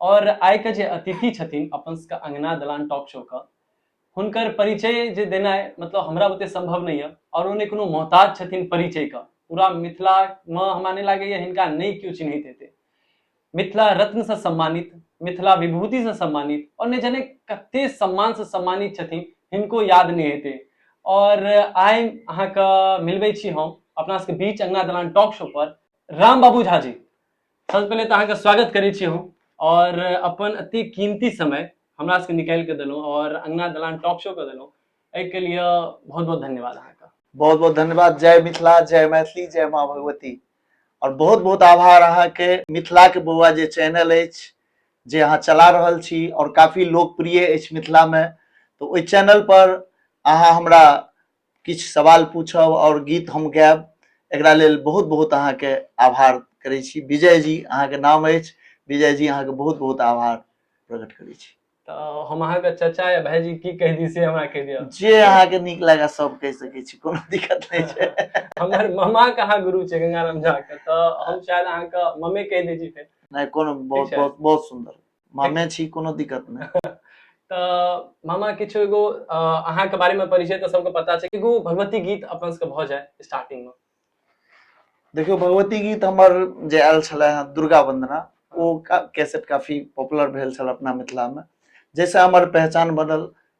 और आय के जे अतिथि छथिन अपन सबके अंगना दलान टॉक शो के हुनकर परिचय जे देना है मतलब हमरा बुते संभव नहीं है और उन्हें कोनो मोहताज छथिन परिचय का पूरा मिथिला में हमरा नहीं लागे ये हिनका नहीं क्यों चिन्हित हेते मिथिला रत्न से सम्मानित मिथिला विभूति से सम्मानित और ने जने कते सम्मान से सम्मानित छथिन हिनको याद नहीं हेते और आय अहाँ के मिलबे छी हम अपना सबके बीच अंगना दलान टॉक शो पर राम बाबू झा जी सबसे पहले तो अहाँके स्वागत करै छी हम और अपन अति कीमती समय हमरा सबके निकालि के देलहुँ और अंगना दलान टॉप शो के देलहुँ एहिके लिए बहुत बहुत धन्यवाद अहाँके बहुत बहुत धन्यवाद जय मिथिला जय मैथिली जय माँ भगवती और बहुत बहुत आभार अहाँके मिथिला के बौआ जे चैनल अछि जे अहाँ चला रहल छी और काफी लोकप्रिय अछि मिथिला में तो ओहि चैनल पर अहाँ हमरा किछु सवाल पूछब आओर गीत हम गायब एकरा लेल बहुत बहुत अहाँके आभार करै छी विजय जी अहाँके नाम अछि विजय जी अहाँके बहुत बहुत आभार प्रकट करै छी तऽ हम अहाँके चाचा या भाईजी की कहि दी से हमरा कहि दिअ जे अहाँके नीक लागए सब कहि सकै छी कोनो दिक्कत नहि छै हमर मामा के अहाँ गुरु छै गंगाराम झा के तऽ हम शायद अहाँके मम्मी कहि दै छी फेर नहि कोनो बहुत बहुत बहुत सुन्दर मामे छी कोनो दिक्कत नहि तऽ मामा किछु एगो अहाँके बारेमे परिचय तऽ सबके पता छै एगो भगवती गीत अपन सबके भऽ जाय स्टार्टिंगमे देखियो भगवती गीत हमर जे आयल छलै हँ दुर्गा वंदना ओ कैसेट काफी पॉपुलर भेल छल अपना मिथिलामे जाहिसँ हमर पहचान बनल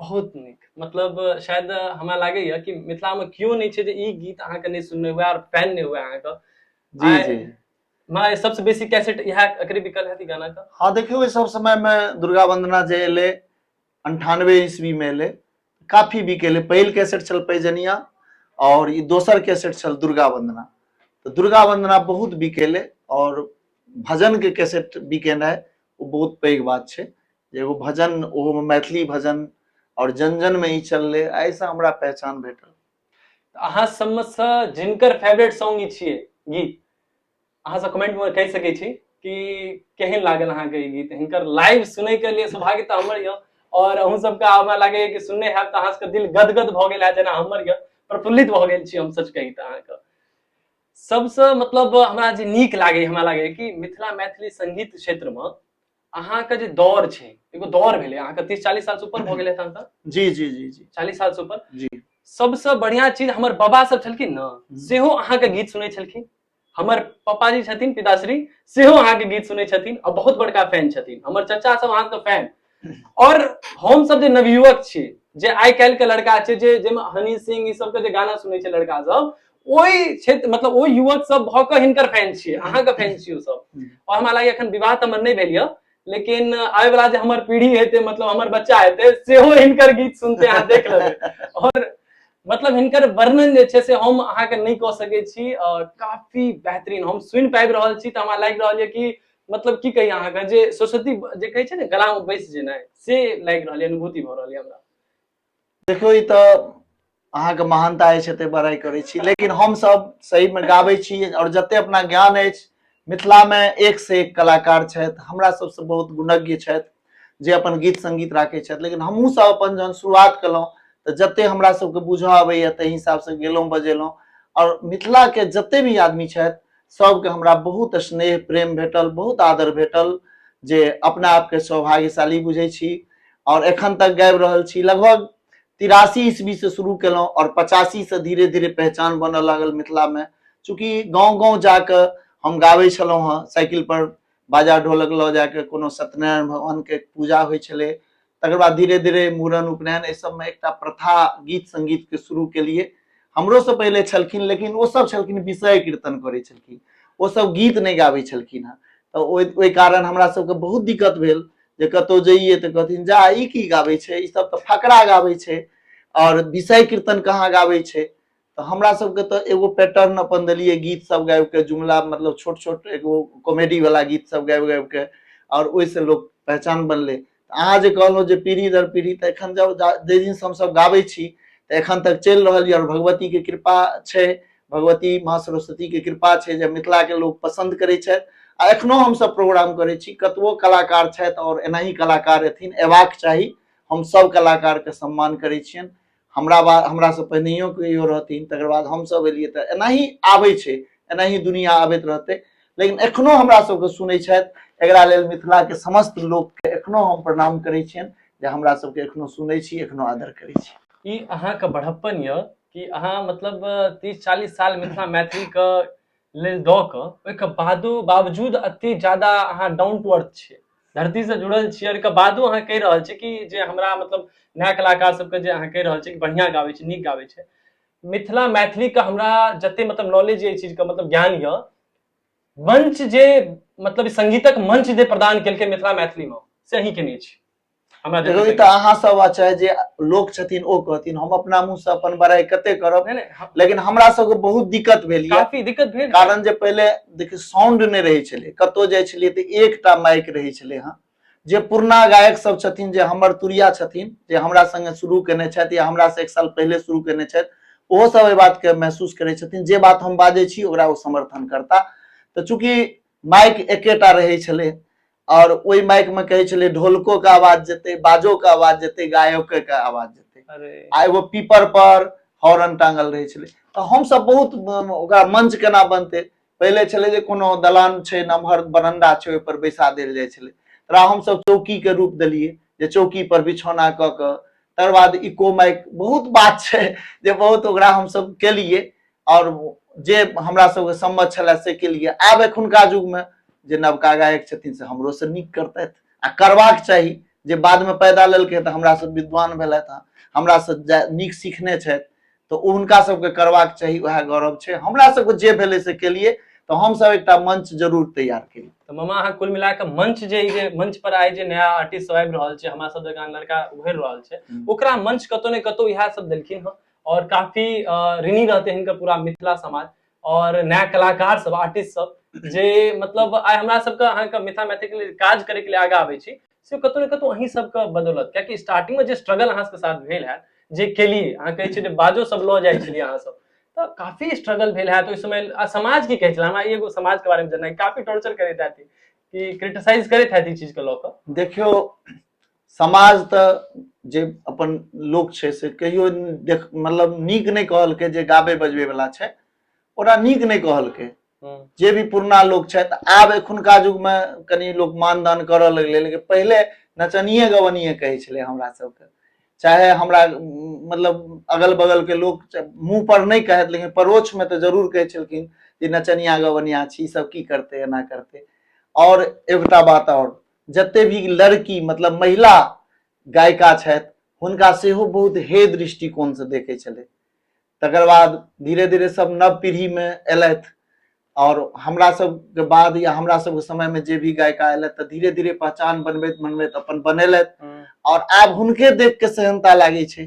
बहुत नीक मतलब शायद हमरा लागैए कि मिथिलामे केओ नहि छै जे ई गीत अहाँके नहि सुनने हुए आओर फैन नहि हुए अहाँके जी जी माय सबसँ बेसी कैसेट इएह एकरे बिकल हैत गाना का हाँ देखियो इस सब समय में दुर्गा वंदना जे एले अंठानवे ईस्वी में एले काफी बिकेले पहिल कैसेट छल पैजनिया और ई दोसर कैसेट छल दुर्गा वंदना तो दुर्गा वंदना बहुत बिकेले और भजन के कैसेट बिकेनाइ ओ बहुत पैघ बात छै एगो भजन ओहोमे मैथिली भजन आओर जन जनमे ई चललै एहिसँ हमरा पहचान भेटल अहाँ सबमेसँ जिनकर फेवरेट सॉन्ग ई छियै गीत अहाँसँ कमेंटमे कहि सकै छी कि केहन लागल अहाँके ई गीत हिनकर लाइव सुनैके लिए सौभाग्य तऽ हमर यऽ आओर अहूँ सबके हमरा लागैए कि सुनने हैब तऽ अहाँ सबके दिल गदगद भऽ गेल है जेना हमर यऽ प्रफुल्लित भऽ गेल छी हम सच कही तऽ अहाँके सबसँ मतलब हमरा जे नीक लागैए हमरा लागैए कि मिथिला मैथिली संगीत क्षेत्रमे अहाँके जे दौर छै एगो दौर भेलै अहाँके तीस चालीस साल से ऊपर भऽ गेलै तहन तऽ जी जी जी जी चालीस साल से ऊपर जी सबसँ बढ़िया चीज हमर बाबा सब छलखिन ने सेहो अहाँके गीत सुनै छलखिन हमर पापाजी छथिन पिताश्री सेहो अहाँके गीत सुनै छथिन आ बहुत बड़का फैन छथिन हमर चचा सब अहाँके फैन और हम सब जे नवयुवक छी जे आइ काल्हि के लड़का छै जे जाहिमे हनी सिंह ई सबके जे गाना सुनै छै लड़का सब ओहि क्षेत्र मतलब ओहि युवक सब भऽ कऽ हिनकर फैन छियै अहाँके फैन छियै ओ सब हम्म। और हमरा लागैए एखन विवाह तऽ हमर नहि भेल यऽ लेकिन आबे वाला जे हमर पीढ़ी हेतै मतलब हमर बच्चा हेतै सेहो हिनकर गीत सुनते अहाँ देख लेबै और मतलब हिनकर वर्णन जे छै से हम अहाँके नहि कऽ सकै छी अ, काफी बेहतरीन हम सुनि पाबि रहल छी तऽ हमरा लागि रहल यऽ कि मतलब की कही अहाँके जे सरस्वती जे कहै छै ने गलामे बैस जेनाइ से लागि रहल यऽ अनुभूति भऽ रहल यऽ हमरा देखियौ ई तऽ अहाँके महानता अछि एते बड़ाइ करै छी लेकिन हमसभ सहीमे गाबै छी आओर जते अपना ज्ञान अछि मिथिलामे एक से एक कलाकार छथि हमरा सबसँ बहुत गुणज्ञ छथि जे अपन गीत संगीत राखै छथि लेकिन हमहूँ सब अपन जहन शुरुआत केलहुँ तऽ जते हमरा सबके बुझऽ अबैया ताहि हिसाबसँ गेलहुँ बजेलहुँ आओर मिथिलाके जते भी आदमी छथि सबके हमरा बहुत स्नेह प्रेम भेटल बहुत आदर भेटल जे अपना आपके सौभाग्यशाली बुझै छी और एखन तक गाबि रहल छी लगभग तिरासी ईस्वी से शुरू केलहुँ और पचासी से धीरे धीरे पहचान बनऽ लागल मिथिला में चूँकि गाँव गाँव जाके हम गाबै छलहुँ हँ साइकिल पर बाजा ढोलक लऽ जाके कोनो सत्यनारायण भगवान के पूजा होइ छलै तकर बाद धीरे धीरे मूड़न उपनयन एहि सबमे एकटा प्रथा गीत संगीत के शुरू केलिए हमरो से पहिले छलखिन लेकिन ओ सब छलखिन विषय कीर्तन करै छलखिन ओ सब गीत नहि गाबै छलखिन हँ तऽ ओहि ओहि कारण हमरा सबके बहुत दिक्कत भेल जे कतौ जइए तऽ कहथिन जा ई की गाबै छै ई सब तऽ फकरा गाबै छै आओर विषय कीर्तन कहाँ गाबै छै तऽ हमरा सबके तऽ एगो पैटर्न अपन देलियै गीत सब गाबि के जुमला मतलब छोट छोट एगो कॉमेडी वाला गीत सब गाबि गाबि के आओर ओहिसँ लोक पहचान बनलै अहाँ जे कहलहुँ जे पीढ़ी दर पीढ़ी तऽ एखन जब जा- जाहि दिन से हमसब गाबै छी तऽ एखन तक चलि रहल यऽ आओर भगवती के कृपा छै भगवती माँ सरस्वती के कृपा छै जे मिथिला के लोक पसंद करै छथि आ एखनो हमसब प्रोग्राम करै छी कतबो कलाकार छथि आओर एनाही कलाकार एथिन एबाक चाही हम सब कलाकार के सम्मान करै छियनि हमरा बाद हमरासँ पहिनहियो कहियो रहथिन तकर बाद हमसभ एलियै तऽ एनाही आबै छै एनाही दुनिया आबैत रहतै लेकिन एखनो हमरा सबके सुनै छथि एकरा लेल मिथिलाके समस्त लोकके एखनो हम प्रणाम करै छियनि जे हमरा सबके एखनो सुनै छी एखनो आदर करै छी ई अहाँके बढ़प्पन यऽ कि अहाँ मतलब तीस चालीस साल मिथिला मैथिलीके लेल दऽ कऽ ओहिके बादो बावजूद एतेक ज्यादा अहाँ डाउन टू अर्थ छियै धरतीसँ जुड़ल छियै ओहिके बादो अहाँ कहि रहल छी कि जे हमरा मतलब नया कलाकार सबके जे अहाँ कहि रहल छी कि बढ़िआँ गाबै छै नीक गाबै छै मिथिला मैथिलीके हमरा जतेक मतलब नॉलेज यऽ एहि चीजके मतलब ज्ञान यऽ मंच जे मतलब सङ्गीतक मंच जे प्रदान केलकै मिथिला मैथिलीमे से अहीँ केने छी हमरा देखो ई जते- तऽ अहाँ सब अच्छा जे लोक छथिन ओ कहथिन हम अपना मुंह से अपन बड़ाई कते करब नहि, नहि, हम- लेकिन हमरा सबके बहुत दिक्कत भेल ये काफी दिक्कत भेल कारण जे पहिले देखियौ साउंड नहि रहै छलै कतौ जाइ छलियै तऽ एकटा माइक रहै छलै हँ जे पुरना गायक सब छथिन जे हमर तुरिया छथिन जे हमरा संगे शुरू केने छथि या हमरा से एक साल पहिले शुरू केने छथि ओहो सब एहि बात के महसूस करै छथिन जे बात हम बाजै छी ओकरा ओ समर्थन करता तऽ चूंकि माइक एकेटा रहै छलै आओर ओहि माइक मे कहै छलै ढोलको के आवाज जेतै बाजो के आवाज जेतै गायको के आवाज जेतै अरे आ एगो पीपर पर हॉर्न टांगल रहै छलै तऽ हमसभ बहुत अम, ओकरा मंच केना बनतै पहिले छलै जे कोनो दलान छै नमहर बरंडा छै ओहि पर बैसा देल जाइ छलै तकरा हमसभ चौकी के रूप देलियै जे चौकी पर बिछौना कऽ कऽ तकर बाद इको माइक बहुत बात छै जे बहुत ओकरा हमसभ केलियै आओर जे हमरा सबके सम्मत छलए से केलियै आब एखुनका युगमे जे नवका गायक छथिन से हमरोसँ नीक करतथि आ करबाक चाही जे बादमे पैदा लेलकै तऽ हमरासँ विद्वान भेलथि हँ हमरासँ जा नीक सीखने छथि तऽ ओ हुनका सबके करबाक चाही उएह गौरव छै हमरा सबके जे भेलै से केलियै तऽ हमसब एकटा मंच जरूर तैयार केलियै तऽ मामा अहाँ कुल मिला कऽ मंच जे ई जे मंच पर आइ जे नया आर्टिस्ट सब आबि रहल छै हमरा सब जकाँ लड़का उभरि रहल छै हम्म। ओकरा मंच कतौ ने कतौ इएह सब देलखिन हँ और काफी ऋणी रहते हैं इनका पूरा मिथिला समाज और नया कलाकार सब आर्टिस्ट सब जे मतलब आइ हमरा सबके अहाँके मिथिला मैथिल के लिए काज करे के लिए आगा आबै छी से कतौ ने कतौ अहीं सबके बदौलत कियाकि स्टार्टिंग में जे स्ट्रगल अहाँ सबके साथ भेल है जे केलिए अहाँ कहै छियै बाजो सब लऽ जाइ छलियै अहाँ सब तऽ काफी स्ट्रगल भेल है तो इस समय समाज की कहै छलै हमरा एगो समाज के बारे में जानना काफी टॉर्चर करैत है कि क्रिटिसाइज करैत है ई चीज के लऽ कऽ देखियो समाज तऽ जे अपन लोक छै से कहियो देख मतलब नीक नहि कहलकै जे गाबे बजबे वाला छै ओकरा नीक नहि कहलकै हम्म। जे भी पुरना लोक छथि आब एखुनका युगमे कनि लोक मानदान करऽ लगलै लेकिन पहिले नचनिए गवनिए कहै छलै हमरा सबके चाहे हमरा उम, मतलब अगल बगल के लोक च- मुंह पर नहि कहत लेकिन परोक्ष में तऽ जरूर कहै छलखिन जे नचनिया गवनिया छी ई सब की करतै एना करतै और एकटा बात और जते भी लड़की मतलब महिला गायिका छथि हुनका सेहो बहुत हे दृष्टिकोणसँ देखै छलै तकर बाद धीरे धीरे सब नव पीढ़ीमे अयलथि आओर हमरा सबके बाद या हमरा सबके समयमे जे भी गायिका अयलथि तऽ धीरे धीरे पहचान बनबैत बनबैत अपन बनेलथि आओर आब हुनके देख के सेहनता लागै छै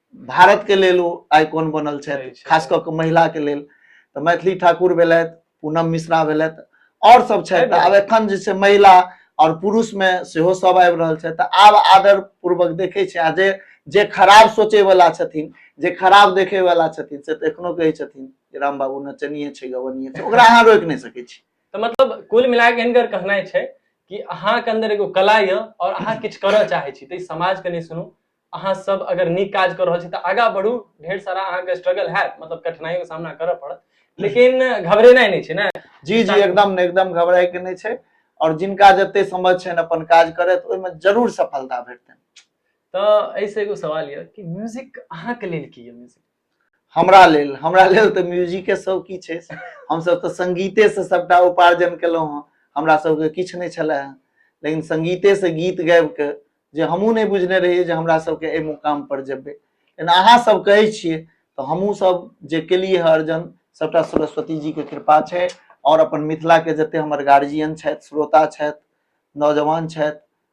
भारत के लेल ओ आइकॉन बनल सही छथि छै। खास कऽ कऽ महिला के लेल तऽ मैथिली ठाकुर भेलथि पूनम मिश्रा भेलथि आओर सब छथि तऽ आब एखन जे छै महिला आओर पुरुष मे सेहो सब आबि रहल छथि तऽ आब आदर पूर्वक देखै छै आ जे जे खराब सोचै वाला छथिन जे खराब देखै वाला छथिन से तऽ एखनो कहै छथिन जे राम बाबू नचनिये छै गवनिये छै ओकरा अहाँ रोकि नहि सकै छी तऽ मतलब कुल मिला के हिनकर कहनाइ छै कि अहाँके अंदर एगो कला यऽ और अहाँ किछु करऽ चाहै छी तऽ ई समाज के नहि सुनू अहाँ सब अगर नीक काज कर रहल छी तऽ आगा बढ़ू ढेर सारा अहाँके स्ट्रगल हैत मतलब कठिनाई के सामना करऽ पड़त लेकिन घबरेनाइ नहि छै ने जी जी एकदम ने एकदम घबराय के नहि छै और जिनका जते समझ छनि अपन काज करत ओहिमे जरूर सफलता भेटतनि तऽ एहिसँ एगो सवाल यऽ कि म्यूजिक अहाँके लेल की यऽ म्यूजिक हमरा लेल हमरा लेल तऽ म्यूजिके सब किछु अछि हमसभ तऽ सङ्गीतेसँ सभटा उपार्जन केलहुँ हँ हमरा सभके किछु नहि छलै हँ लेकिन सङ्गीतेसँ गीत गाबि कऽ जे हमहूँ नहि बुझने रहियै जे हमरा सभके एहि मुकामपर जेबै लेकिन अहाँ सब कहै छियै तऽ हमहूँ सब जे केलियै हँ अर्जन सभटा सरस्वती जीके कृपा छै आओर अपन मिथिलाके जते हमर गार्जियन छथि श्रोता छथि नौजवान छथि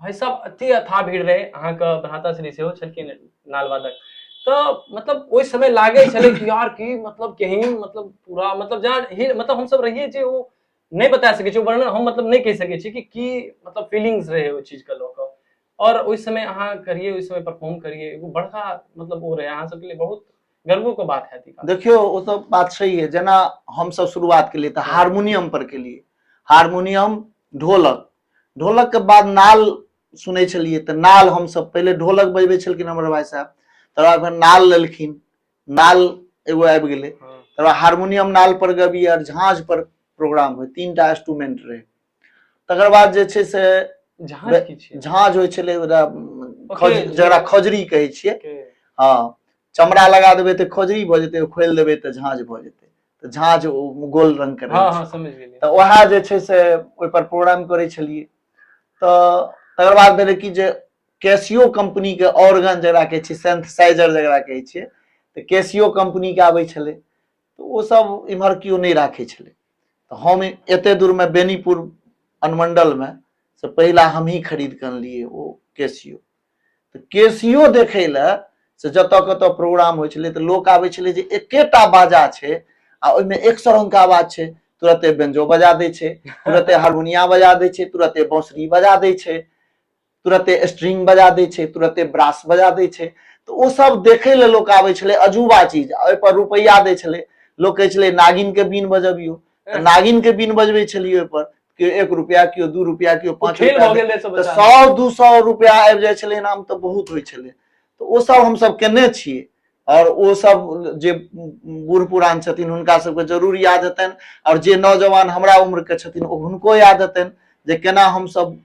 भाय सब एते अथा भीड़ रहे अहाँ के भ्राता श्री सेहो छलखिन नालवादक तो मतलब ओहि समय लागे छले कि यार की मतलब कहीं मतलब पूरा मतलब जहाँ मतलब हम सब रहिए जे ओ नहीं बता सके छी वर्णन हम मतलब नहीं कह सके छी कि की मतलब फीलिंग्स रहे ओ चीज के लोक और ओहि समय अहाँ करिए ओहि समय परफॉर्म करिए एगो बड़का मतलब ओ रहे अहाँ सबके लिए बहुत गर्व को बात है देखियो ओ तो बात सही है जना हम सब शुरुआत के लिए तो हारमोनियम पर के लिए हारमोनियम ढोलक ढोलक के बाद नाल सुनै छलियै तऽ नाल हमसभ पहिले ढोलक बजबै छलखिन हमर भाई साहब तकर बाद फेर नाल लेलखिन नाल एगो आबि गेलै हँ। तकर बाद हारमोनियम नाल पर गबी आर झाँझ पर प्रोग्राम होय तीन टा इंस्ट्रूमेंट रहै तकर बाद जे छै से झाँझ बे- की छियै झाँझ होइ छलै ओकरा ओके, खौज- जी। जकरा खौजरी कहै छियै ओके। हँ चमड़ा लगा देबै तऽ खौजरी भऽ जेतै खोलि देबै तऽ झाँझ भऽ जेतै तऽ झाँझ ओ गोल रंग के रहै हँ छै। हँ समझ गेलियै तऽ उएह जे छै से ओहिपर प्रोग्राम करै छलियै तऽ तकर बाद भेलै कि जे कैसियो कम्पनी के ऑर्गन जकरा कहै छै सेन्थेसाइजर जकरा कहै छियै तऽ कैसियो कम्पनी के आबै छलै तऽ ओ सब इम्हर केओ नहि राखै छलै तऽ हम एते दूर मे बेनीपुर अनुमंडल मे से पहिला हमही खरीद कऽ अनलियै ओ कैसियो तऽ केसियो देखै लए से जतऽ कतऽ प्रोग्राम होइ छलै तऽ लोक आबै छलै जे एकेटा बाजा छै आ ओहिमे एक सए रंग के आवाज छै तुरते बेंजो बजा दै छै तुरते हारमोनिया बजा दै छै तुरते बांसुरी बजा दै छै तुरते स्ट्रिंग बजा दै छै तुरते ब्रास बजा दै छै तऽ ओ सब देखै लए लोक आबै छलै अजूबा चीज आ ओहिपर रुपैआ दै छलै लोक कहै छलै नागिनके बीन बजबियौ तऽ नागिनके बीन बजबै छलियै ओहिपर केओ एक रुपया केओ दू रुपया केओ पाँच खेल रुपया भऽ गेल रहै सब तऽ बच्चा सौ दू सौ रुपया आबि जाइ छलै इनाम तऽ बहुत होइ छलै तऽ ओ सब हमसब केने छी आओर ओ सब जे बूढ़ पुरान छथिन हुनका सबके जरूर याद हेतनि आओर जे नौजवान हमरा उम्र के छथिन ओ हुनको याद हेतनि जे केना हमसब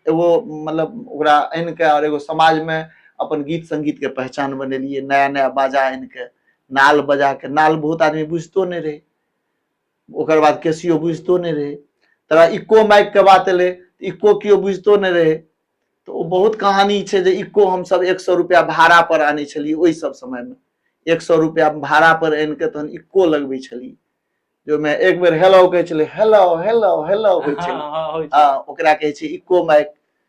एगो मतलब ओकरा आनि कऽ आओर एगो समाज मे अपन गीत संगीत के पहचान बनेलियै नया नया बाजा आनि कऽ नाल बजा कऽ नाल बहुत आदमी बुझितो नहि रहै ओकर बाद केसियो बुझितो नहि रहै तकरा इको माइकके बात एलै इको केओ बुझितो नहि रहै तऽ ओ बहुत कहानी छै जे इको हमसभ एक सए रुपैआ भाड़ापर आनै छलियै ओहि सभ समयमे एक सए रुपैआ भाड़ापर आनि कऽ तहन इको लगबै छलियै जे ओहिमे एक बेर हेलो कहै छलै हेलो हेलो हेलो होइ छलै हँ, हँ, होइ छै। हँ ओकरा कहै छै इको माइक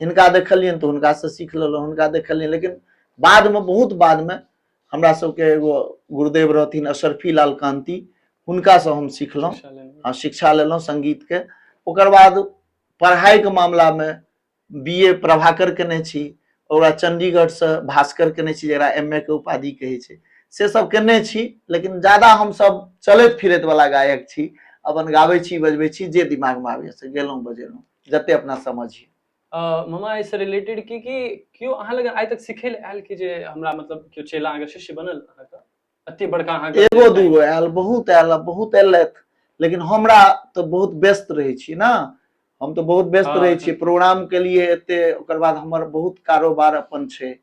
हिनका देखलियनि तऽ हुनकासँ सीख लेलहुँ हुनका देखलियनि लेकिन बादमे बहुत बादमे हमरा सबके एगो गुरुदेव रहथिन अशरफी लाल कांति हुनकासँ हम सिखलहुँ शिक्षा लेने रही। हँ शिक्षा लेलहुँ सङ्गीतके ओकर बाद पढ़ाइके मामलामे बी ए प्रभाकर केने छी ओकर बाद चण्डीगढ़सँ भास्कर केने छी जकरा एम ए के उपाधि कहै छै से सब केने छी लेकिन ज्यादा हमसब चलैत फिरैत वला गायक छी अपन गाबै छी बजबै छी जे दिमागमे आबैए से गेलहुँ बजेलहुँ जते अपना समझी मामा एहिसँ रिलेटेड की कि केओ अहाँ लग आइ तक सिखै लए आयल कि जे हमरा मतलब केओ चेला अहाँके शिष्य बनल अहाँके अते बड़का अहाँके एगो दूगो आयल बहुत आयल बहुत एलथि लेकिन हमरा तऽ बहुत व्यस्त रहै छी ने हम तऽ बहुत व्यस्त हाँ, रहै छी प्रोग्राम के लिए एते ओकर बाद हमर बहुत कारोबार अपन छै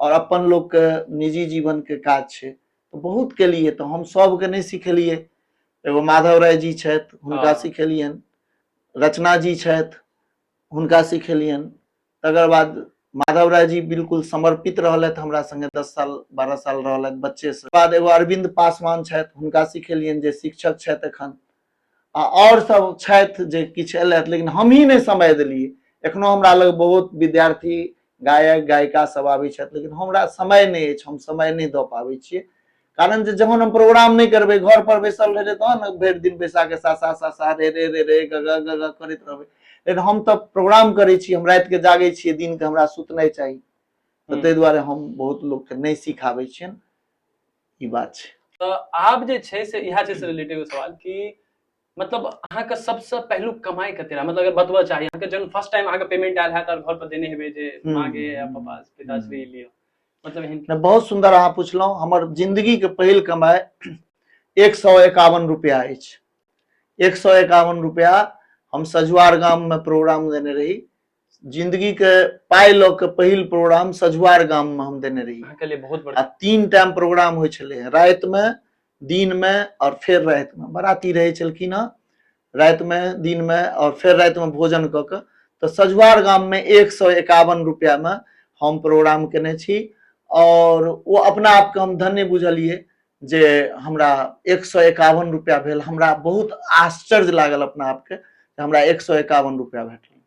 और अपन लोग के निजी जीवन के काज छै तऽ बहुत केलिए तऽ हम सबके नहि सिखेलिए एगो माधव राय जी छथि हुनका हाँ। सिखेलियन रचना जी छथि हुनका सिखेलियन तकर बाद माधव राय जी बिल्कुल समर्पित रहलथि हमरा संगे दस साल बारह साल रहलथि बच्चे से बाद एगो अरविंद पासवान छथि हुनका सिखेलियन जे शिक्षक छथि एखन आ आओर सब छथि जे किछु अयलथि लेकिन हमही नहि समय देलियै एखनो हमरा लग बहुत विद्यार्थी गायक गायिका सब आबै छथि लेकिन हमरा समय नहि अछि हम समय नहि दऽ पाबै छियै कारण जे जहन हम प्रोग्राम नहि करबै घर पर बैसल रहबै तहन ने भरि दिन बैसा के सासा सासा रे रे रे रे ग ग ग ग करैत रहबै लेकिन हम तऽ प्रोग्राम करै छी हम रातिके जागै छियै दिनके हमरा सुतनाइ चाही तऽ हम्म। ताहि दुआरे हम बहुत लोकके नहि सिखाबै छियनि ई बात छै तऽ आब जे छै से इएह छै से रिलेटेड सवाल कि मतलब अहाँके सबसँ पहिलुक कमाई कते रहै मतलब अगर बतबऽ चाही अहाँके जहन फर्स्ट टाइम अहाँके पेमेंट आयल हैत और घर पर देने हेबै जे हम्म। माँ के या पापा पिताश्री हम्म। लियो मतलब एहन नहि बहुत सुन्दर अहाँ पुछलहुँ हमर जिन्दगीके पहिल कमाइ एक सौ एकावन रुपया अछि एक सौ एकावन रुपया हम सजुआर गाममे प्रोग्राम देने रही जिंदगी के पाइ लऽ के पहिल प्रोग्राम सझुआर गाम में हम देने रही अहाँके लिए बहुत आ बड़ा तीन टाइम प्रोग्राम होइ छलै हँ रातिमे दिनमे आओर फेर रातिमे बराती रहै छलखिन हँ रातिमे दिनमे आओर फेर रातिमे भोजन कऽ कऽ तऽ सजुआर गाममे एक सए एकावन रुपैआमे हम प्रोग्राम केने छी आओर ओ अपना आपके हम धन्य बुझलिए जे हमरा एक सए एकावन रुपया भेल हमरा बहुत आश्चर्य लागल अपना आपके हमरा एक सए एकावन रुपया भेटल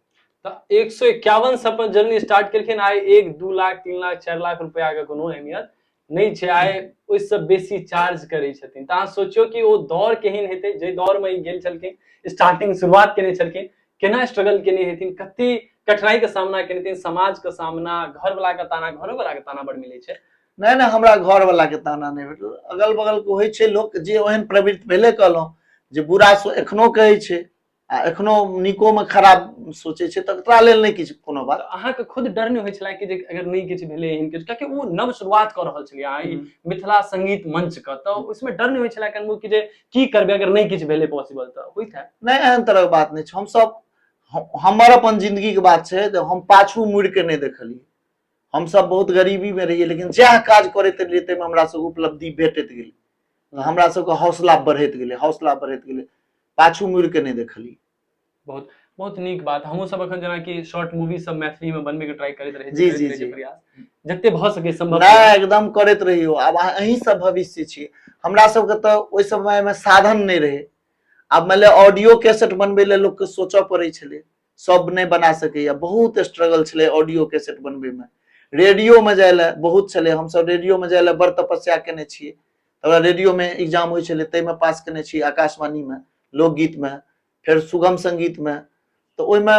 तऽ एक सए एकावन से अपन जर्नी स्टार्ट केलखिन आइ एक दू लाख तीन लाख चारि लाख रुपया के कोनो अहमियत नहि छै आइ ओहिसँ बेसी चार्ज करै छथिन तऽ अहाँ सोचियौ कि ओ दौर केहन हेतै जाहि दौरमे ई गेल छलखिन स्टार्टिंग शुरुआत केने छलखिन केना स्ट्रगल केने हेथिन कते कठिनाई के सामना केने हेथिन समाज के सामना घर वाला के ताना घरो वाला के ताना बड़ मिले छै नहि नहि हमरा घरवलाके ताना नहि भेटल अगल बगलके होइ छै लोक जे ओहन प्रवृत्ति पहिले कहलहुँ जे बुरा सो एखनो कहै छै आ एखनो नीकोमे खराब सोचै छै तऽ तोरा लेल नहि किछु कोनो बात अहाँके खुद डर नहि होइ छलै कि जे अगर नहि किछु भेलै एहन किछु कियाकि ओ नव शुरुआत कऽ रहल छलियै अहाँ ई हम्म। मिथिला संगीत मंच के तऽ उसमें डर नहीं होइ छला कनबो कि जे की करबे अगर नहीं किछु भेले पॉसिबल तऽ होइत है नहि एहन तरहक बात नहि छै हमसभ हम- हमर अपन जिन्दगीके बात छै जे हम पाछू मुड़ि कऽ नहि देखलियै हमसभ बहुत गरीबीमे रहियै लेकिन जएह काज करैत रहियै ताहिमे हमरा सभके उपलब्धि भेटैत गेलै तऽ हमरा सभके हौसला बढ़ैत गेलै हौसला बढ़ैत गेलै पाछू मुड़ि कऽ नहि देखलियै बहुत बहुत नीक बात हमहूँ सब अखन जेनाकि शॉर्ट मूवी सब मैथिली में बनबे के ट्राई करैत रहे जी, जी, जी। प्रयास जते भऽ सके संभव नहि एकदम करैत रहियौ आब अहाँ अहीं सब भविष्य छी हमरा सबके तऽ ओहि समयमे साधन नहि रहै आब मानि लिअ ऑडियो कैसेट बनबै लए लोकके सोचय पड़ै छलै सब नहि बना सकैए बहुत स्ट्रगल छलै ऑडियो कैसेट बनबैमे रेडियोमे जाय लए बहुत छलै हमसब रेडियोमे जाय लए बड़ तपस्या केने छियै तकरा रेडियोमे एग्जाम होइ छलै ताहिमे पास केने छी आकाशवाणीमे लोकगीतमे फेर सुगम सङ्गीतमे तऽ ओहिमे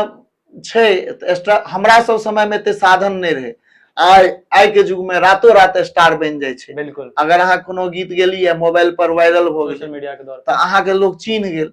छै एक्स्ट्रा हमरा सब समयमे एते साधन नहि रहै आइ आइके युगमे रातो रात स्टार बनि जाइ छै बिल्कुल अगर अहाँ कोनो गीत गेलियै मोबाइल पर वायरल भऽ गेल सोशल मीडिया के दौर तऽ अहाँके लोक चिन्ह गेल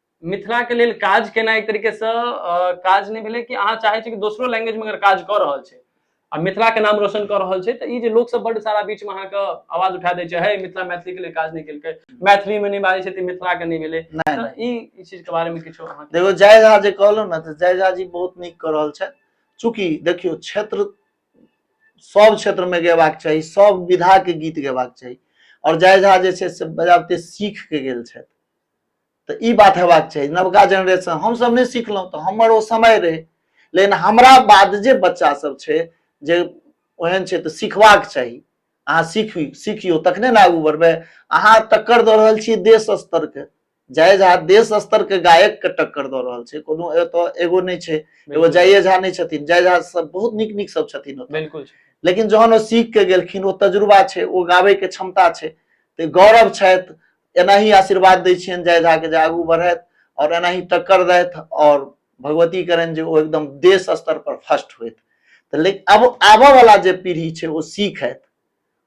मिथिला के लेल काज केना एक तरीके से काज नहीं भेले कि अहाँ चाहे कि दोसरो लैंग्वेज में अगर काज कर रहा है आ मिथिला के नाम रोशन कर रहा है तो ये लोग सब बड़ सारा बीच में अहाँके आवाज उठा दे है मिथिला मैथिली के लिए काज नहीं कल मैथिली में नहीं बाजै छै मिथिला के नहीं भेले ई चीज के बारे में किछो देखो जय झा जे कहलो ना तो जय झा जी बहुत निक कर रहा है चूंकि देखियो क्षेत्र सब क्षेत्र में गेबाक चाहिए सब विधा के गीत गेबाक चाहिए और जय झा जे से बजाबते सीख के गेल छथि तऽ ई बात हेबाक चाही नवका जेनरेशन हमसभ नहि सिखलहुँ तऽ हमर ओ समय रहै लेकिन हमरा बाद जे बच्चा सब छै जे ओहन छै तऽ सिखबाक चाही अहाँ सीखी सीखियौ तखने ने आगू बढ़बै अहाँ टक्कर दऽ रहल छियै देश स्तरके जय झा देश स्तरके गायकके टक्कर दऽ रहल छै कोनो एतऽ एगो नहि छै एगो जय झा नहि छथिन जय झा सब बहुत नीक नीक सब छथिन ओतऽ। बिल्कुल लेकिन जहन ओ सीख के गेलखिन ओ तजुर्बा छै ओ गाबैके क्षमता छै तऽ गौरव छथि एनाही आशीर्वाद दै छियनि जय झा के जे आगू बढ़थि और एनाही टक्कर दथि और भगवती करनि जे ओ एकदम देश स्तर पर फर्स्ट होत तऽ लेकिन अब आबऽ वाला जे पीढ़ी छै ओ सीखत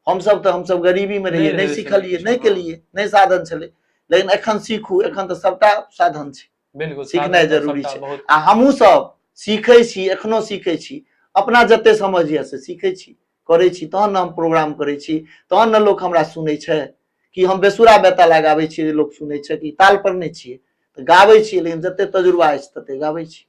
हमसभ तऽ हमसभ गरीबी में रहियै नहि सिखलियै नहि केलियै नहि साधन छलै लेकिन एखन सीखू एखन तऽ सबटा साधन छै बिल्कुल सीखनाइ जरूरी छै आ हमहूँ सब सीखै छी एखनो सीखै छी अपना जते समझ यऽ से सीखै छी करै छी तहन ने हम प्रोग्राम करै छी तहन ने लोक हमरा सुनै छै कि हम बेसुरा बेता लगाबै छियै जे लोक सुनै छै कि ताल पर नहि छियै तऽ गाबै छियै लेकिन जते तजुर्बा अछि तते गाबै छी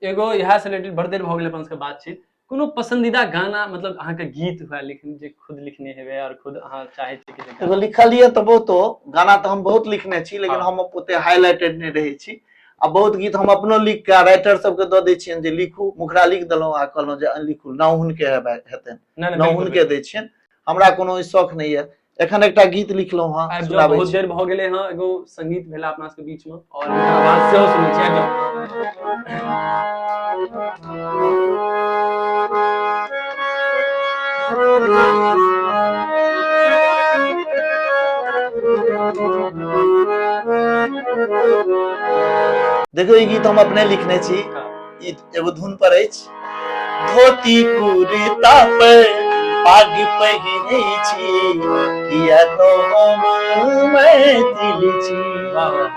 एगो इएह से रिलेटेड बड़ देर भऽ गेलै अपन सबके बातचीत कोनो पसंदीदा गाना मतलब अहाँके गीत हुए लिखने जे खुद लिखने हेबै आओर खुद अहाँ चाहै छी कि एगो लिखलियै तऽ बहुतो गाना तऽ हम बहुत लिखने छी लेकिन हाँ। हम ओते हाईलाइटेड नहि रहै छी आ बहुत गीत हम अपनो लिख कऽ राइटर सबके दऽ दै छियनि जे लिखू मुखरा लिख देलहुँ आ कहलहुँ जे अहाँ लिखू नाव हुनके हेबै हेतनि नहि नाव बिल्कुल, हुनके दै छियनि हमरा कोनो ई शौक नहि यऽ एखन एकटा गीत लिखलहुँ हेँ आबि जाउ, सुनाबै बहुत छी। देर भऽ गेलै हँ एगो संगीत भेला अपना सबके बीच में और आवाज सेहो सुनै छियै आबि जाउ। देखियौ ई गीत हम अपने लिखने छी ई एगो धुन पर अछि धोती कुर्ता पे पाग पहिने छी किया तो हम मैथिल छी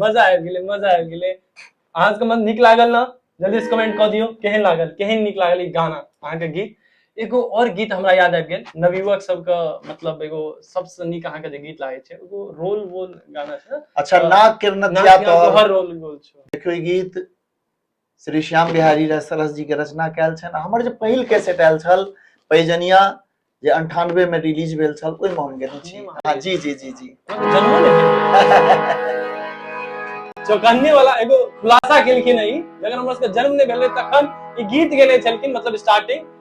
मजा आबि गेलै मजा आबि गेलै अहाँ सबके मन नीक लागल ने जल्दी से कमेंट कऽ दियौ केहन लागल केहन नीक लागल ई गाना अहाँके गीत एगो और गीत हमरा याद आबि गेल नवयुवक सबके मतलब एगो सबसँ नीक अहाँके जे गीत लागै छै एगो रोल वोल गाना छै अच्छा नाग के नथिया तोहर रोल गोल छौ देखियौ ई गीत श्री श्याम बिहारी राय सरस जी के रचना कयल छनि हमर जे पहिल कैसेट आयल छल पैजनिया जे अंठानवे में रिलीज भेल छल ओहिमे हम गेल छी हाँ जी जी जी जी चौकन्ने वाला एगो खुलासा केलखिन है अगर हमरा सबके जन्म नहीं भेल तखन ई गीत गेले छलखिन मतलब स्टार्टिंग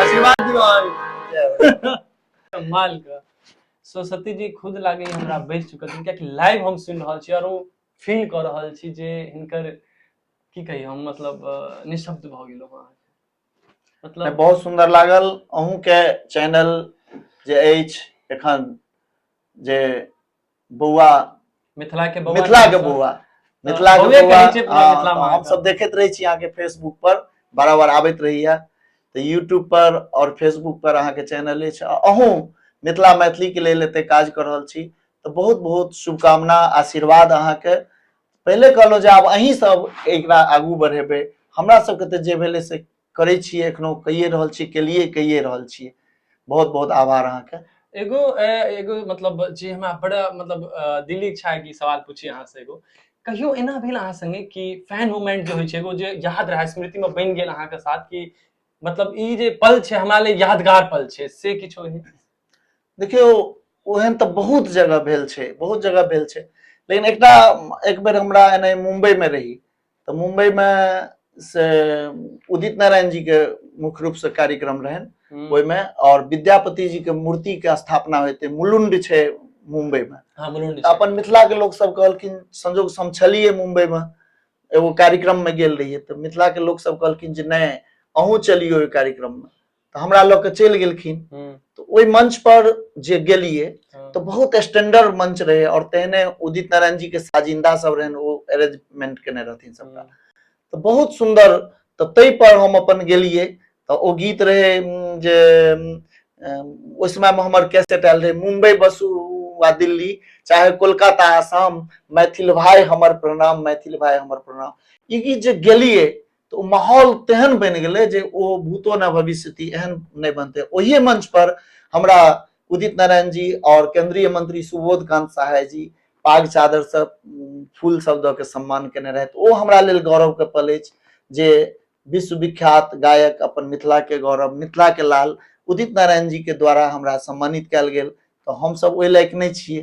आशीर्वाद दियो माल का सो सती जी खुद लागे हमरा बैस चुकल छै कियाकि लाइव हम सुनि रहल छी और ओ फील कर रहल छी जे हिनकर की कही हम मतलब निशब्द भ गेलो हां मतलब बहुत सुंदर लागल अहूं के चैनल जे अछि एखन जे बौआ मिथिला के बौआ मिथिला के बौआ मिथिला के बौआ हम सब देखते रहे छी आगे फेसबुक पर बार बार आबत रही है तो यूट्यूब पर और फेसबुक पर अहाँ के चैनल है अहू मिथिला मैथिली के लिए एते काज कर रहा छी तो बहुत बहुत शुभकामना आशीर्वाद अहाँ के पहले कहलो जे आब अहीं सब एक आगू बढ़ेबे हमरा सब के तो जे भेले से करै छियै एखनो कहिए रहल छियै केलिए कहिए रहल छियै बहुत बहुत आभार अहाँके एगो एगो मतलब जे हमरा बड़ा मतलब दिल्ली इच्छा है कि सवाल पूछी अहाँ से एगो कहियो एना भेल अहाँ संगे कि फैन मोमेंट जे होइ छै एगो जे याद रहै स्मृति में बन गेल अहाँके साथ कि मतलब ई जे पल छै हमरा लिए यादगार पल छै से किछो है देखियो ओहन तऽ बहुत जगह भेल छै बहुत जगह भेल छै लेकिन एकटा एक बेर हमरा एने मुंबई में रही तऽ मुम्बईमे से उदित नारायण जी के मुख्य रूप से कार्यक्रम रहन हम्म। ओहिमे और विद्यापति जी के मूर्ति के स्थापना होते मुलुंड छै मुंबई में हाँ, मुलुंड अपन मिथिला के लोग सब कहलखिन संजोग हम छलिए मुंबई में एगो कार्यक्रम में गेल रहिए तो मिथिला के लोग सब कहलखिन जे नहीं अहूँ चलियो कार्यक्रम में तऽ हमरा लऽ के चलि गेलखिन हम्म, तऽ ओहि मंच पर जे गेलिए हम्म, तऽ बहुत स्टैंडर्ड मंच रहे और तेहने उदित नारायण जी के साजिंदा सब रहन ओ अरेंजमेंट केने रहथिन सबटा हम्म, तऽ बहुत सुंदर तऽ ताहि पर हम अपन गेलिए तऽ ओ गीत रहे उम, जे उम, अम, ओहि समय में हमर कैसेट आयल रहे मुंबई बसु वा दिल्ली चाहे कोलकाता आसाम मैथिल भाई हमर प्रणाम मैथिल भाई हमर प्रणाम ई गीत जे गेलिए तऽ ओ माहौल तेहन बनि गेलै जे ओ भूतो न भविष्यति एहन नहि बनतै ओहि मंच पर हमरा उदित नारायण जी और केंद्रीय मंत्री सुबोध कांत सहाय जी पाग चादर से उम, फूल सब दऽ के सम्मान केने रहथि ओ हमरा लेल गौरव के पल अछि जे विश्वविख्यात गायक अपन मिथिला के गौरव मिथिला के लाल उदित नारायण जी के द्वारा हमरा सम्मानित कयल गेल तऽ हमसभ ओहि लायक नहि छियै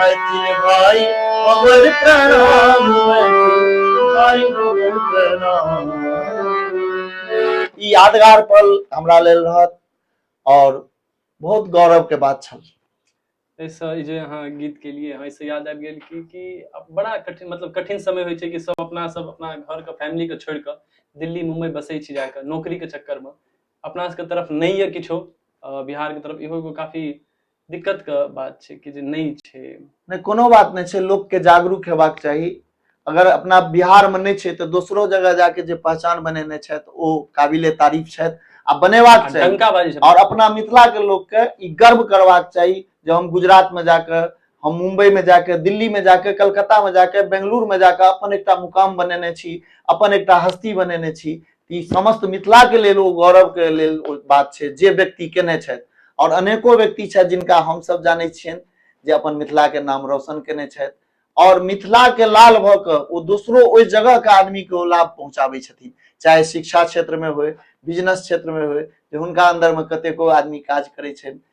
मैथिल भाई हमर प्रणाम मैथिल भाई हमर प्रणाम ई यादगार पल हमरा लेल रहत और बहुत गौरव के बात छल एहिसँ ई जे अहाँ गीत केलियै हँ एहिसँ याद आबि गेल कि कि अब बड़ा कठिन मतलब कठिन समय होइ छै कि सब अपना सब अपना घरके फैमिलीके छोड़ि कऽ दिल्ली मुम्बई बसै छी जाकऽ नौकरीके चक्करमे अपना सबके तरफ नहि यऽ किछो अ, बिहारके तरफ इहो एगो काफी दिक्कत के बात छै कि जे नहि छै नहि कोनो बात नहि छै लोकके जागरूक हेबाक चाही अगर अपना बिहारमे नहि छै तऽ दोसरो जगह जाके जे पहचान बनेने छथि ओ काबिले तारीफ छथि आ बनेबाक आ चाही डंका बाजी आओर अपना मिथिलाके लोकके ई गर्व करबाक चाही जे हम गुजरातमे जाके हम मुंबईमे जाके दिल्लीमे जाके कलकत्तामे जाके बेंगलुरुमे जाके अपन एकटा मुकाम बनेने छी अपन एकटा हस्ती बनेने छी ई समस्त मिथिला के लेल ओ गौरव के लेल ओ बात छै जे व्यक्ति केने छथि और अनेको व्यक्ति छथि जिनका हम सब जानै छियनि जे अपन मिथिला के नाम रोशन केने छथि और मिथिला के लाल भऽ कऽ ओ दोसरो ओहि जगह के आदमी के ओ लाभ पहुंचाबै छथिन चाहे शिक्षा क्षेत्र में होय बिजनेस क्षेत्र में होय जे हुनका अंदर में कतेको आदमी काज करै छनि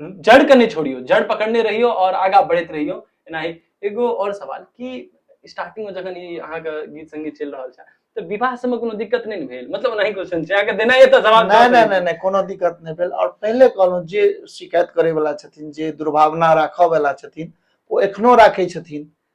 जड़ के नहीं छोड़ियो जड़ पकड़ने रहियो और आगा बढ़त रहियो एना ही एगो और सवाल कि स्टार्टिंग में जखन ई अहाँ के गीत संगीत चल रहल छै तऽ विवाह समय कोनो दिक्कत नहीं ने भेल मतलब ओनाही क्वेश्चन छै अहाँ के देना ये तऽ जवाब नहि नहि नहि नहि कोनो दिक्कत नहि भेल आओर पहिले कहलहुँ जे शिकायत करैवला छथिन जे दुर्भावना राखऽवला छथिन ओ एखनो राखै छथिन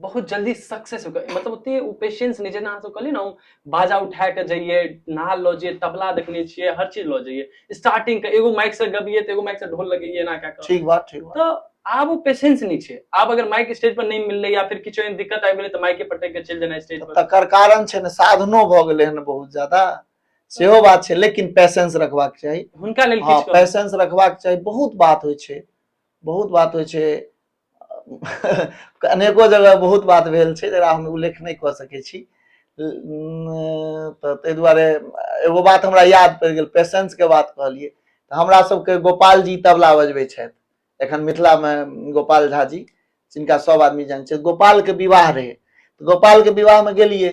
बहुत जल्दी सक्सेस हो मतलब ओते ओ पेशेंस नहि जेना अहाँसभ कहलियै ने हम बाजा उठा कऽ जइयै नाल लऽ जइयै तबला देखने छियै हर चीज लऽ जइयै स्टार्टिंग के एगो माइक से गबियै तऽ एगो माइक से ढोल लगैयै एना कए कऽ ठीक बात ठीक बात तऽ आब ओ पेशेंस नहि छै आब अगर माइक स्टेज पर नहि मिललै या फिर किछु एहन दिक्कत आबि गेलै तऽ माइके पटक के चलि जेनाइ स्टेज पर तकर कारण छै ने साधनो भऽ गेलै हन बहुत ज्यादा सेहो बात छै लेकिन पेशेंस रखबाक चाही हुनका लेल हँ किछु कहू। पेशेंस रखबाक चाही बहुत बात होइ छै बहुत बात होइ छै अनेको जगह बहुत बात भेल छै जकरा हम उल्लेख नहि कऽ सकै छी तऽ ताहि दुआरे एगो बात हमरा याद पड़ि गेल पेशेंसके बात कहलियै तऽ हमरा सबके गोपाल जी तबला बजबै छथि एखन मिथिलामे गोपाल झा जी जिनका सब आदमी जानै छै गोपालके विवाह रहै गोपालके विवाहमे गेलियै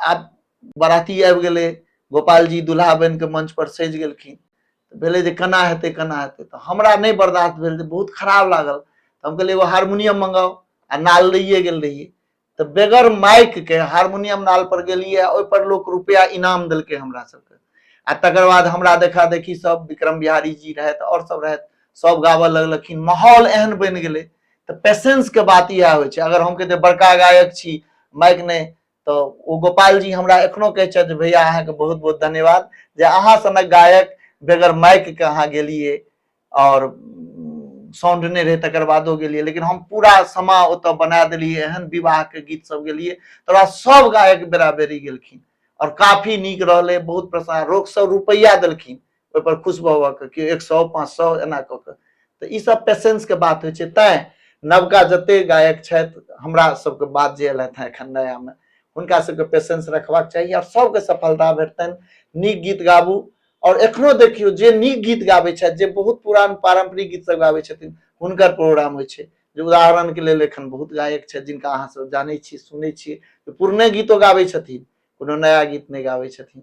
आब बराती आबि गेलै गोपालजी दुल्हा बनि कऽ मंच पर सजि गेलखिन तऽ भेलै जे केना हेतै केना हेतै तऽ हमरा नहि बर्दाश्त भेल जे बहुत खराब लागल तऽ हम कहलियै एगो हारमोनियम मंगाउ आ नाल लैए गेल रहियै तऽ बेगर माइक के हारमोनियम नाल पर गेलियै आ ओहिपर लोक रुपैआ इनाम देलकै हमरा सबके आ तकर बाद हमरा देखा देखी सब विक्रम बिहारी जी रहथि आओर सब रहथि सब गाबऽ लगलखिन माहौल एहन बनि गेलै तऽ पेशेंस के बात इएह होइ छै अगर हम कहते बड़का गायक छी माइक नहि तो ओ गोपाल जी हमरा एखनो कहै छथि भैया अहाँके बहुत बहुत धन्यवाद जे अहाँ सनक गायक बेगर माइक के अहाँ गेलिए और साउंड नहीं रहे तकर बादो गेलिए लेकिन हम पूरा समा ओतऽ बना देलिए एहन विवाह के गीत सब गेलिए तोरा सब गायक बेरा बेरी गेलखिन और काफी नीक रहले बहुत प्रसन्न रोग सब रुपैया देलखिन ओहिपर खुश भऽ भऽ कऽ केओ एक सए पाँच सए एना कऽ कऽ तऽ ईसभ पेशेंसके बात होइ छै तैँ नवका जतेक गायक छथि हमरा सभके बात जे अयलथि हेँ एखन नयामे हुनका सभके पेशेंस रखबाक चाही आओर सभके सफलता भेटतनि नीक गीत गाबू आओर एखनो देखियौ जे नीक गीत गाबै छथि जे बहुत पुरान पारम्परिक गीत सभ गाबै छथिन हुनकर प्रोग्राम होइ छै जे उदाहरणके लेल एखन बहुत गायक छथि जिनका अहाँ सभ जानै छी सुनै छी जे पुरने गीतो गाबै छथिन कोनो नया गीत नहि गाबै छथिन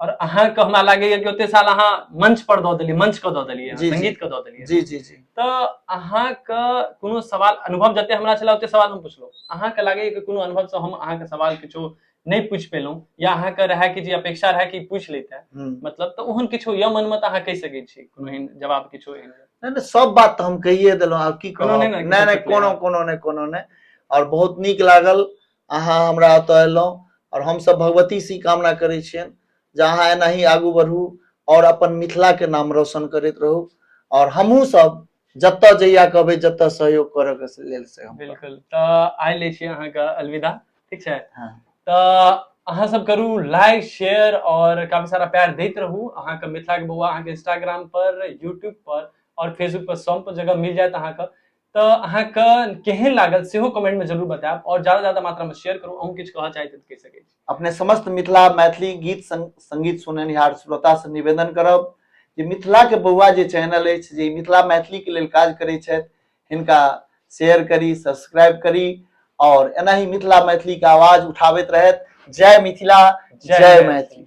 और अहाँ के हमरा लागे ये कि ओते साल अहाँ मंच पर दऽ देलियै मंच के दऽ देलियै जी, जी। संगीत के दऽ देलियै जी जी जी तऽ अहाँ के कोनो सवाल अनुभव जते हमरा छला ओते सवाल हम पुछलहुँ अहाँ के लागे ये कि कोनो अनुभव से हम अहाँ के सवाल किछो नहि पूछि पेलहुँ या अहाँ के रहए कि जे अपेक्षा रहए कि पूछि लैते हम्म। मतलब तऽ ओहन किछो यऽ मनमे तऽ अहाँ कहि सकै छी कोनो एहन जवाब किछो एहन नहि नहि सब बात तऽ हम कहिए देलहुँ आब की कोनो कहब नहि ने, नहि किछो नहि चुटकुला। कोनो कोनो नहि कोनो नहि आओर बहुत नीक लागल अहाँ हमरा ओतऽ अयलहुँ आओर हमसभ भगवतीसँ ई कामना करै छियनि जे अहाँ एनाही आगू बढ़ू आओर अपन मिथिलाके नाम रोशन करैत रहू आओर हमहूँ सब जतऽ जहिया कहबै जतऽ सहयोग करऽके से लेल से हम करब। बिल्कुल तऽ आइ लै छी अहाँके अलविदा ठीक छै हाँ। तऽ अहाँ सब करू लाइक शेयर और काफी सारा प्यार दैत रहू अहाँके मिथिला के बौआ अहाँके इंस्टाग्राम पर यूट्यूब पर और फेसबुक पर सब पर जगह मिल जायत अहाँके तो अहाँ के केहन लागल से हो कमेंट में जरूर बताएब और ज्यादा ज्यादा मात्रा में शेयर करू अहूँ किछु कहऽ चाहैत कह सकै छी अपने समस्त मिथिला मैथिली गीत संगीत सुननिहार श्रोता से निवेदन करब जे मिथिला के बौआ जे चैनल है जे मिथिला मैथिली के लिए काज करे हिनका शेयर करी सब्सक्राइब करी और एना ही मिथिला मैथिली के आवाज उठाबैत रहत जय मिथिला जय, जय मैथिली